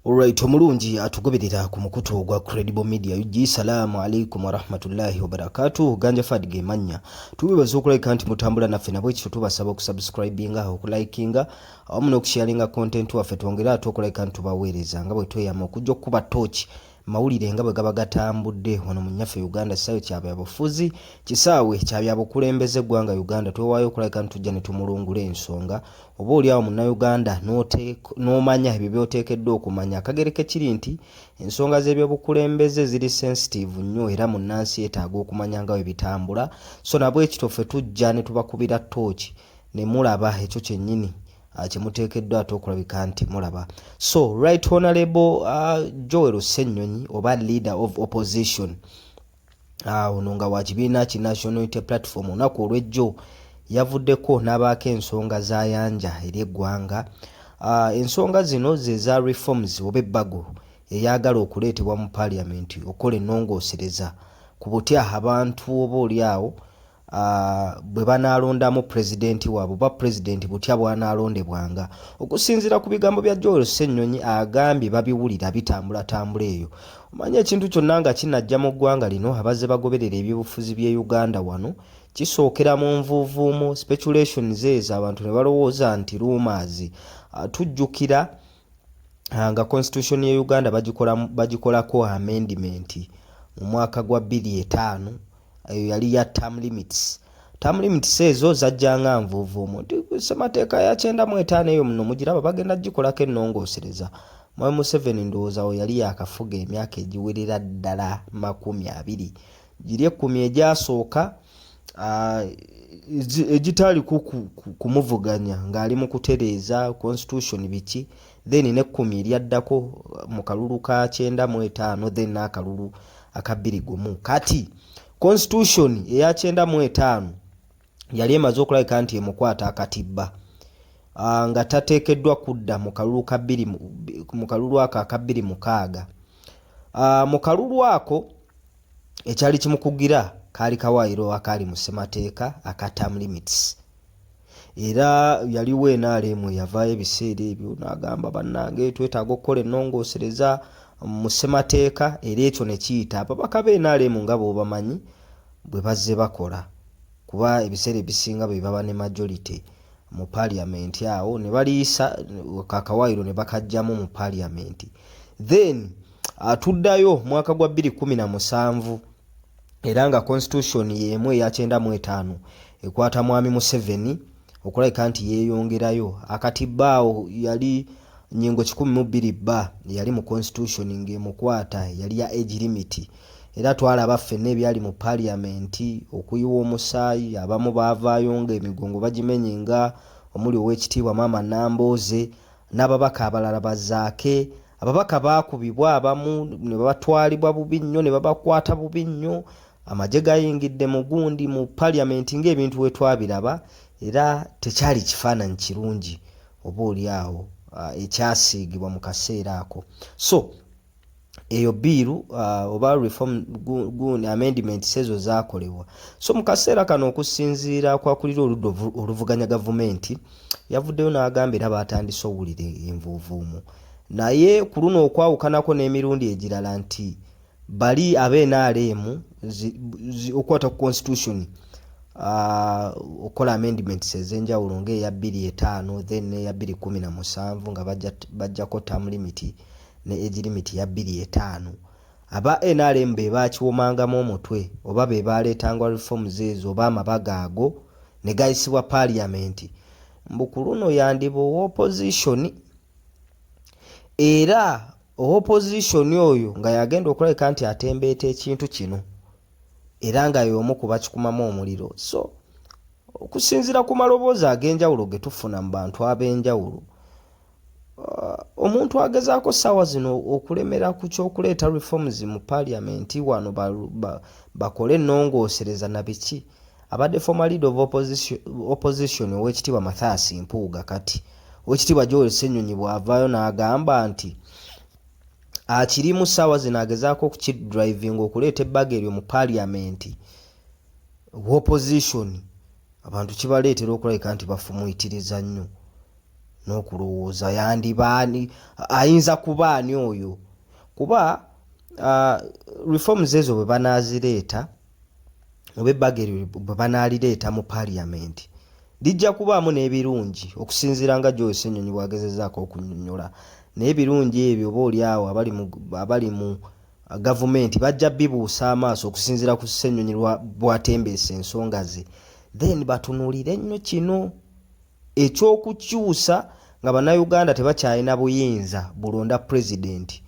Alright, omulungi atugoberera ku mukutu ogwa Credible Media UG. Salaamu alaikum warahmatullahi wabarakatuh. Ganja Fad ge mannya. Tubebaza okulabika nti mutambula naffe nabwe kityo tubasaba okusubscribinga, okulikinga awamu n'okusharinga content waffe twongere ate okulabika nti tubaweereza nga bwe tweyama okujja okukuba tooki Mawulire nga bwe gaba gatambudde wano mu nnyaffe Uganda kisaawe kya byabufuzi, kisaawe kya byabukulembeze ggwanga Uganda twewaayo okulabika nti tujja ne tumulungula ensonga oba oli awo munnayuganda n'omanya ebyo by'oteekeddwa okumanya. Akagere ke kiri nti ensonga z'ebyobukulembeze ziri sensitiivu nnyo era munnansi yeetaaga okumanya nga bwe bitambula, so na bwekityo ffe tujja ne tubakubira ttooki ne mulaba ekyo kyennyini Ah, kyemuteekeddwa ate okulabika nti mulaba so right honorable uh, joel senyonyi oba leader of opposition ah, ono uh, nga wakibiina ki national unity platform olunaku olwejjo yavuddeko n'abaako ensonga zayanja eri eggwanga uh, ensonga zino zeza reforms oba ebbago eyagala okuleetebwa mu parliament okukola enongosereza ku butya abantu oba oli awo bwe banaalondamu pulezidenti waabwe oba pulezidenti butya bw'anaalondebwanga okusinziira ku bigambo bya joel ssennyonyi agambye babiwulira bitambulatambula eyo omanyi ekintu kyonna nga kinajja mu ggwanga lino abazze bagoberera ebyobufuzi by'e uganda wano kisookera mu nvuuvuumu speculations ezo abantu ne balowooza nti ruumaazi ah, tujjukira ah, nga constitution ye uganda bagikolako amendimenti mu mwaka gwa 25 eyo yali ya term limits term limits ezo zajja nga nvuuvuumu nti ssemateeka ya kyenda mu etaano eyo muno mugiraba bagenda gikolako ennongoosereza mwami museveni ndowooza wo yali yakafuga emyaka egiwerera ddala makumi abiri giri ekkumi egyasooka ah, egitaaliko kumuvuganya ng'ali mu kutereeza constitution biki then nekkumi eryaddako mu kalulu ka kyenda mu etaano then n'akalulu aka bbiri gumu kati constitution eya kyenda mu etaano yali emaze okulabika nti emukwata akatibba ah, nga tateekeddwa kudda mu kalulu ako aka bbiri mukaaga ah, mu kalulu ako ekyali kimukugira kaali kawaayiro akaali mu ssemateeka aka term limits era yaliwo enaalemu eyavaayo ebiseera ebyo n'agamba bannange twetaaga okukola ennongoosereza mu ssemateeka era ekyo ne kiyita ababaka b'enaalemu nga bw'obamanyi bwe bazze bakola kuba ebiseera ebisinga be baba ne majority mu parliament awo ne baliyisa kakawaayiro ne bakajjamu mu parliament then atuddayo mwaka gwa 2017 era nga constitution yeemu eya kyenda mu etaano ekwata mwami Museveni okulabika nti yeeyongerayo akati baawo yali nyingo kikumi mu bbiri bba yali mu constitution ng'emukwata yali ya age limit era twalaba ffenna ebyali mu paliyamenti okuyiwa omusaayi abamu baavaayo ng'emigongo bagimenye nga omuli ow'ekitiibwa maama Nambooze n'ababaka abalala bazaake ababaka baakubibwa abamu ne batwalibwa bubi nnyo ne babakwata bubi nnyo amagye gayingidde mu gundi mu parliament ng'ebintu we twabiraba era tekyali kifaananyi kirungi oba oli awo ah, ekyasiigibwa mu kaseera ako so eyo biiru uh, oba reform gun amendment sezo zakolebwa so mu kaseera kano okusinziira kwakulira oludda oluvuganya gavumenti yavuddeyo n'agamba era baatandise owulira envuuvuumu naye ku luno okwawukanako n'emirundi egirala nti bali abenrm okukwata ku constitution Ah, okola amendments ezenjawulo ngaeya 25 then neya 217 nga bajjako tam limit ne egirimiti ya bbiri etaano. Aba nrm be baakiwomangamu omutwe oba be baaleetanga reforms ezo oba amabaga ago ne gayisibwa parliament. Mbu ku luno yandiba owa opposition era owa opposition oyo nga yagenda okulabika nti atembeeta ekintu kino era nga y'omu ku bakikumamu omuliro. So okusinziira ku maloboozi ag'enjawulo ge tufuna mu bantu ab'enjawulo, Uh, omuntu agezaako saawa zino okulemera ku kyokuleeta reforms mu parliament wano bakole enongosereza na biki abadde former lead of opposition, opposition owekitiibwa mathias mpuuga kati owekitiibwa joel senyonyi bwavaayo n'agamba nti akirimu saawa zino agezaako okukidrivinga okuleeta ebbaga eryo mu parliament opposition abantu kibaleetera okulabika nti bafumuitiriza nnyo n'okulowooza yandiba ani ayinza kuba ani oyo kuba uh, reforms ezo bwe banaazireeta oba ebbaga eryo bwe banaalireeta mu parliament lijja kubaamu n'ebirungi okusinziira nga joyce ennyonyi bwagezezaako okunyonyola naye ebirungi ebyo oba oli awo abali mu gavumenti bajja bibuusa amaaso okusinziira ku ssenyonyi bwatembeesa ensonga ze then batunulire nnyo kino eky'okukyusa nga Bannayuganda tebakyalina buyinza bulonda Pulezidenti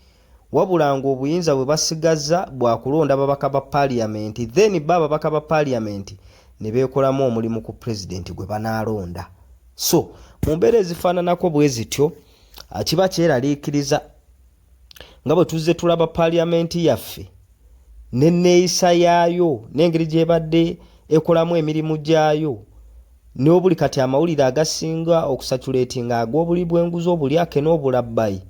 wabula ng'obuyinza bwe basigazza bwa kulonda ababaka ba Paaliyamenti then bo ababaka ba Paaliyamenti ne beekolamu omulimu ku Pulezidenti gwe banaalonda. So mu mbeera ezifaananako bwe zityo, kiba kyeraliikiriza. nga bwe tuzze tulaba paaliyamenti yaffe n'enneeyisa yaayo n'engeri gy'ebadde ekolamu emirimu gyayo n'obuli kati amawulire agasinga okusatuleetinga ag'obuli bw'enguzi obulyake n'obulabbayi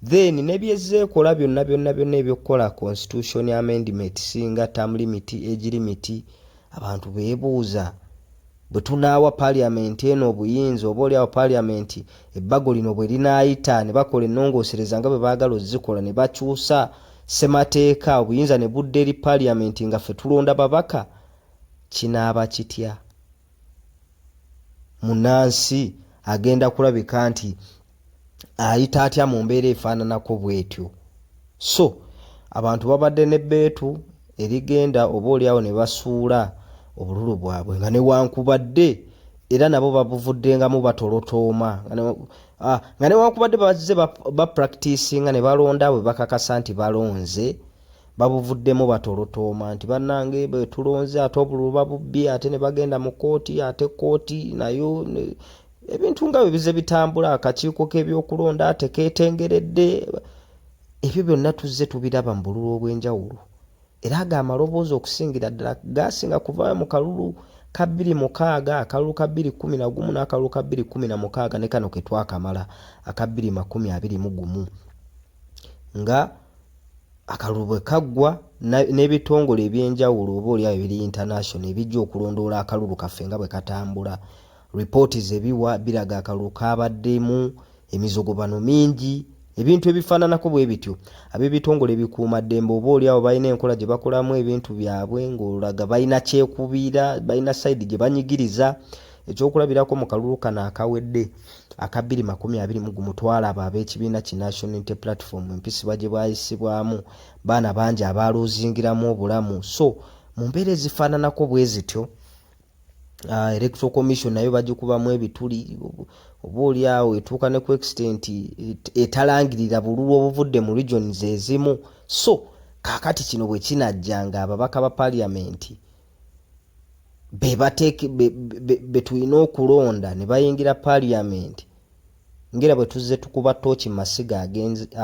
then nebyezze ekola byonna byonna byonna ebyokukola constitution amendment singa term limit age limit abantu beebuuza Bwe tunaawa Paaliamenti eno obuyinza, oba oli awo Paaliamenti, ebbago lino bwe linaayita, ne bakola ennongoosereza nga bwe baagala ozzikola, ne bakyusa Ssemateeka, obuyinza ne budda eri Paaliamenti nga ffe tulonda babaka, kinaaba kitya? Munnansi agenda kulabika nti ayita atya mu mbeera efaananako bwetyo so abantu babadde ne beetu erigenda oba oliawo ne basuula obululu bwabwe nga newankubadde era nabo babuvuddengamu batolotooma ah, nga newankubadde bazze bapractisinga ne balonda bwe bakakasa nti balonze babuvuddemu batolotooma nti bannange bwe tulonze ate obululu babubbye ate ne bagenda mu kooti ate kooti nayo ebintu nga bwe bize bitambula akakiiko k'ebyokulonda tekeetengeredde ebyo byonna tuzze tubiraba mu bululu obw'enjawulo era ago amaloboozi okusingira ddala gaasinga kuvaayo mu kalulu ka bbiri mukaaga akalulu ka bbiri kkumi na gumu n'akalulu ka bbiri kkumi na mukaaga ne kano ke twakamala aka bbiri makumi abiri mu gumu nga akalulu bwe kaggwa n'ebitongole eby'enjawulo oba olyawo ebiri international ebijja okulondoola akalulu kaffe nga bwe katambula Lipooti ze biwa biraga akalulu kaabaddemu emizogobano mingi ebintu ebifaananako bwe bityo ab'ebitongole ebikuuma ddembe oba oli awo balina enkola gye bakolamu ebintu byabwe ng'olaga balina kyekubiira balina sayidi gye banyigiriza ekyokulabirako mu kalulu kano akawedde aka bbiri makumi abiri mu gumu twalaba ab'ekibiina ki national inte platform empisibwa gye bwayisibwamu baana bangi abaaluuzingiramu obulamu so mu mbeera ezifaananako bwe zityo uh, electoral commission nayo bagikubamu ebituli oba oli awo etuuka ne ku extent etalangirira bululu obuvudde mu regions ezimu so kakati kino bwe kinajja nga ababaka ba parliament be tulina okulonda ne bayingira parliament Ngera bwe tuzze tukuba ttooki mu masiga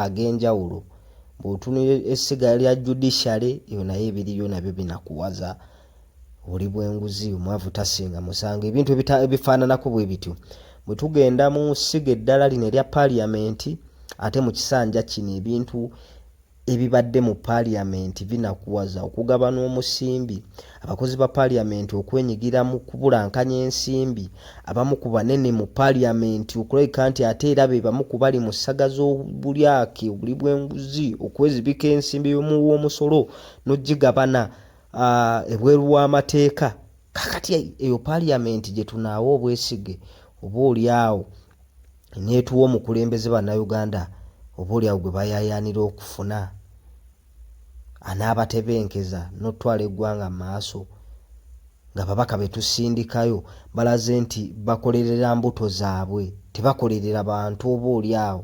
ag'enjawulo, bw'otunira essiga lya judiciary eyo nayo ebiriyo nabyo binakuwaza oli bw'enguzi omwavu tasinga musango ebintu ebifaananako bwe bityo bwe tugenda mu ssiga eddala lino erya parliament ate mu kisanja kino ebintu ebibadde mu parliament binakuwaza okugaba n'omusimbi abakozi ba parliament okwenyigira mu kubulankanya ensimbi abamu ku banene mu parliament okulabika nti ate era be bamu ku bali mu ssaga z'obulyake obuli bw'enguzi okwezibika ensimbi yomuwa omusolo n'ogigabana ah, ebweru w'amateeka kakati eyo parliament gye tunaawa obwesige oba olyawo netuwa omukulembeze banauganda oba olyawo gwe bayayaanira okufuna anaabatebenkeza n'otutwala eggwanga mu maaso nga babaka be tusindikayo balaze nti bakolerera mbuto zaabwe tebakolerera bantu oba olyawo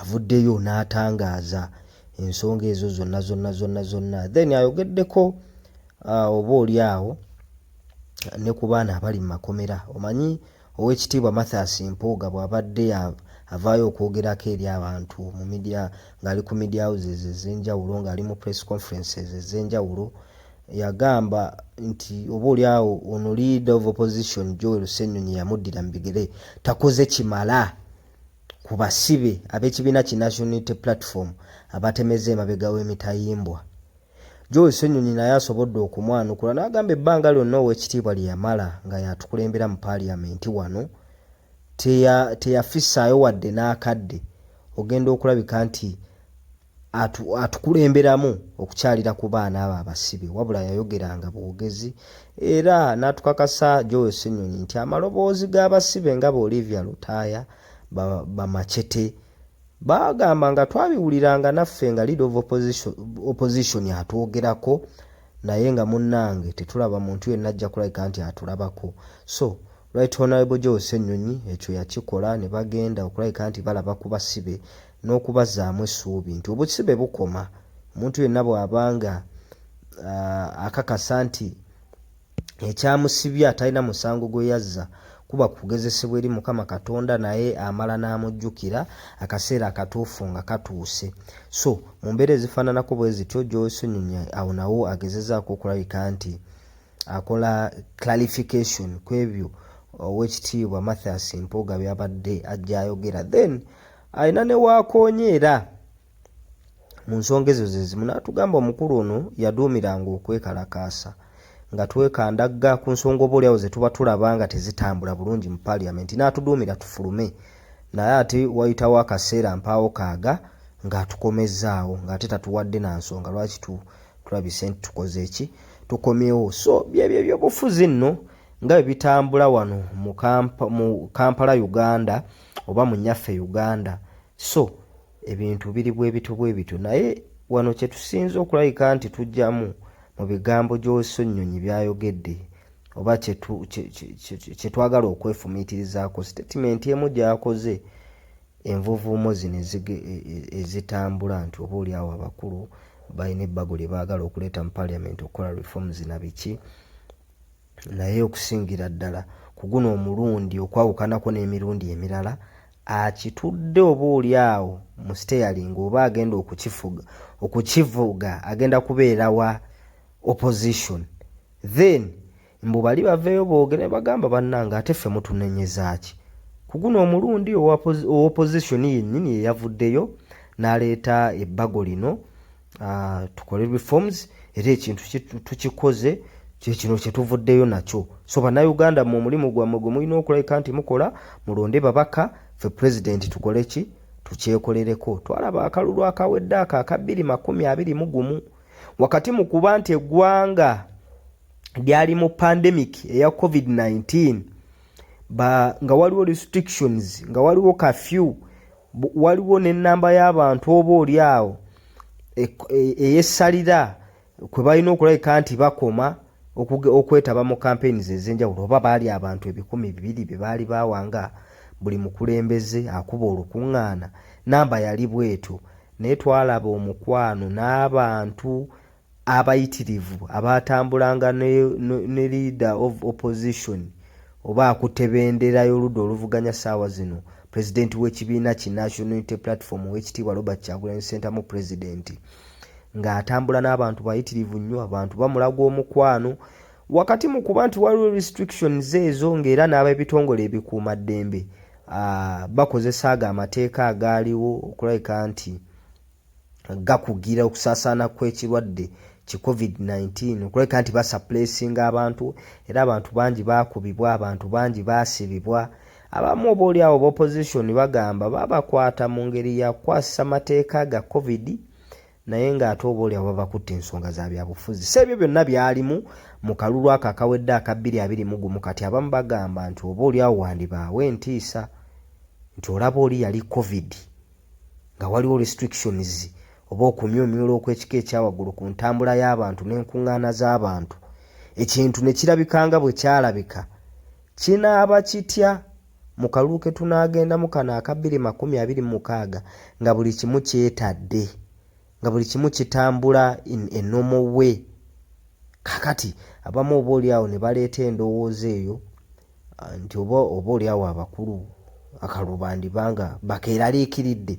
avuddeyo n'atangaaza ensonga ezo zonna zonna zonna zonna then ayogeddeko uh, oba oli awo ne ku baana abali mu makomera omanyi owekitiibwa mathias mpuuga bw'abadde avaayo okwogerako eri abantu mu media ng'ali ku media houses ez'enjawulo ng'ali mu press conferences ez'enjawulo yagamba nti oba oli awo ono leader of opposition joel senyonyi yamuddira mu bigere takoze kimala ku basibe ab'ekibiina ki National Unity Platform abatemezza emabega w'emitayimbwa. Joel Ssenyonyi naye asobodde okumwanukula n'agamba ebbanga lyonna ow'ekitiibwa lye yamala nga y'atukulembera mu Parliament wano teyafissaayo wadde n'akadde ogenda okulabika nti atukulemberamu okukyalira ku baana abo abasibe wabula yayogeranga bwogezi era n'atukakasa Joel Ssenyonyi nti amaloboozi g'abasibe nga ba Olivia Lutaaya bamacete baagamba nga twabiwuliranga naffe nga lead of opposition atwogerako naye nga munnange tetulaba muntu yenna ajja kulabika nti atulabako so Right Honourable Joe Ssenyonyi ekyo yakikola ne bagenda okulabika nti balaba ku basibe n'okubazaamu essuubi nti obusibe bukoma omuntu yenna bw'aba nga uh, akakasa nti ekyamusibye atalina musango gwe yazza kuba kugezesebwa eri mukama katonda naye amala n'amujjukira akaseera akatuufu nga katuuse so mu mbeera ezifaananako bwe zityo gyosonyonyi awo nawo agezezaako okulabika nti akola clarification ku ebyo owekitiibwa Mathias Mpuuga byabadde ajja ayogera then alina ne waakoonye era mu nsonga ezo ze zimu n'atugamba omukulu ono yaduumiranga okwekalakaasa nga twekandagga ku nsonga oba oliawo ze tuba tulaba nga tezitambula bulungi mu paliamenti n'atuduumira tufulume naye ate wayitawo akaseera mpaawo kaaga ng'atukomezzaawo ng'ate tatuwadde na nsonga lwaki tulabise nti tukoze eki tukomyewo so byebyo ebyobufuzi nno nga bwe bitambula wano mu kampala uganda oba mu nyaffe uganda so ebintu biri bwebityo bwebityo naye wano kyetusinza okulabika nti tujjamu mu bigambo gy'oso nnyonyi byayogedde oba kyetwagala okwefumiitirizaako sitatimenti emu gyakoze envuuvuumo zino ezitambula nti oba oli awo abakulu balina ebbago lye baagala okuleeta mu parliament okukola reforms na biki naye okusingira ddala ku guno omulundi okwawukanako n'emirundi emirala akitudde oba oli awo mu steering oba agenda okukifuga okukivuga agenda kubeera wa opposition then mbu bali baveeyo boogere bagamba bannange ate ffe mutunenyezaaki ku guno omulundi owopozisoni yennyini yeyavuddeyo n'aleeta ebbago lino ah, tukole reforms era ekintu tukikoze kyekino kyetuvuddeyo nakyo so bannayuganda mu omulimu gwammwe gwe mulina okulabika nti mukola mulonde babaka fe pulezidenti tukole ki tukyekolereko twalaba akalulu akawedde ako aka bbiri makumi abiri mu gumu wakati mu kuba nti eggwanga lyali mu pandemic eya covid-19 ba nga waliwo restrictions nga waliwo kafyu waliwo nenamba y'abantu oba oli awo e, e, eyesalira kwe balina okulabika nti bakoma okwetaba mu campaigns ezenjawulo oba baali abantu ebikumi bibiri bye baali bawanga buli mukulembeze akuba olukuŋŋaana namba yali bwetyo naye twalaba omukwano n'abantu abayitirivu abaatambulanga ne, ne, ne leader of opposition oba akutte bendera y'oludda oluvuganya saawa zino pulezidenti w'ekibiina ki National Unity Platform ow'ekitiibwa Robert Kyagulanyi Ssentamu pulezidenti ng'atambula n'abantu bayitirivu nnyo abantu bamulaga omukwano wakati mu kuba nti waliwo restrictions ezo ng'era n'ab'ebitongole ebikuuma ddembe bakozesa ago amateeka agaaliwo okulabika nti gakugira okusaasaana kw'ekirwadde ki COVID-19 okulabika nti basaplesinga abantu era abantu bangi baakubibwa, abantu bangi baasibibwa. Abamu oba oli awo b'opposition bagamba babakwata mu ngeri ya kukwasisa mateeka ga COVID naye ng'ate oba oli awo babakutte ensonga za byabufuzi. So ebyo byonna byalimu mu kalulu ako akawedde aka bbiri abiri mu gumu kati abamu bagamba nti oba oli awo wandibaawo entiisa nti olaba oli yali COVID. nga waliwo restrictions oba okumyumyula okw'ekika ekyawaggulu ku ntambula y'abantu n'enkuŋŋaana z'abantu, ekintu ne kirabika nga bwe kyalabika, kinaaba kitya mu kalulu ke tunaagendamu kano aka bbiri makumi abiri mu mukaaga nga buli kimu kyetadde? nga buli kimu kitambula in a normal way kakati abamu oba olyawo ne baleeta endowooza eyo ah, nti oba oba olyawo abakulu akalubandiba nga bakeeraliikiridde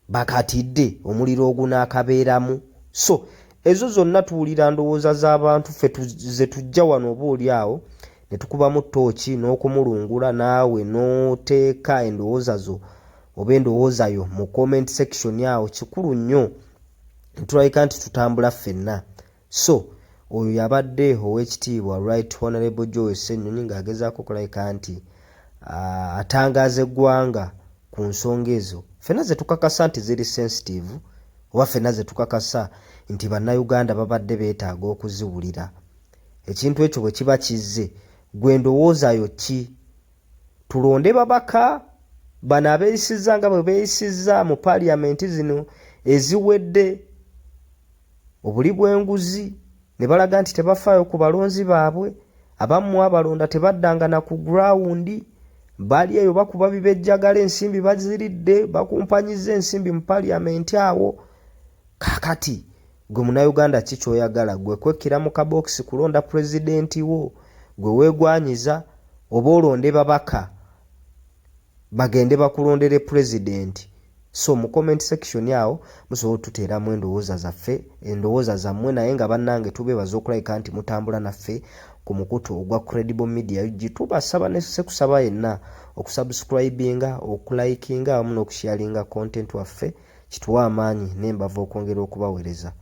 bakatidde omuliro ogunaakabeeramu so ezo zonna tuwulira ndowooza z'abantu ffe ze tujja wano oba olyawo ne tukubamu tooki n'okumulungula naawe n'oteeka endowooza zo oba endowooza yo mu comment section awo kikulu nnyo ntulabika nti tutambula ffenna so oyo yabadde ow'ekitiibwa right honorable joy ssenyonyi ng'agezaako okulabika nti atangaaza eggwanga ku nsonga ezo ffenna ze tukakasa nti ziri sensitive oba ffenna ze tukakasa nti bannayuganda babadde beetaaga okuziwulira ekintu ekyo bwe kiba kizze gwe ndowooza yo ki tulonde babaka bano abeeyisizza nga bwe beeyisizza mu paaliyamenti zino eziwedde obuli bw'enguzi ne balaga nti tebafaayo ku balonzi baabwe abamu abalonda tebaddanga na ku gurawundi bali eyo bakuba bibejjagala ensimbi baziridde bakumpanyiza ensimbi mu paaliyamenti awo kaakati Gwe munauganda ki kyoyagala gwe kwekkira mu kabokisi kulonda pulezidenti wo gwe wegwanyiza oba olonde babaka bagende bakulondere pulezidenti so mu comment section awo musobola otuteeramu endowooza zaffe endowooza zammwe naye nga bannange tubeebaza okulabika nti mutambula naffe ku mukutu ogwa credible media ug tubasaba nesekusaba yenna okusubscribinga okulikinga awamu n'okusharinga content waffe kituwa amaanyi nembavu okwongera okubawereza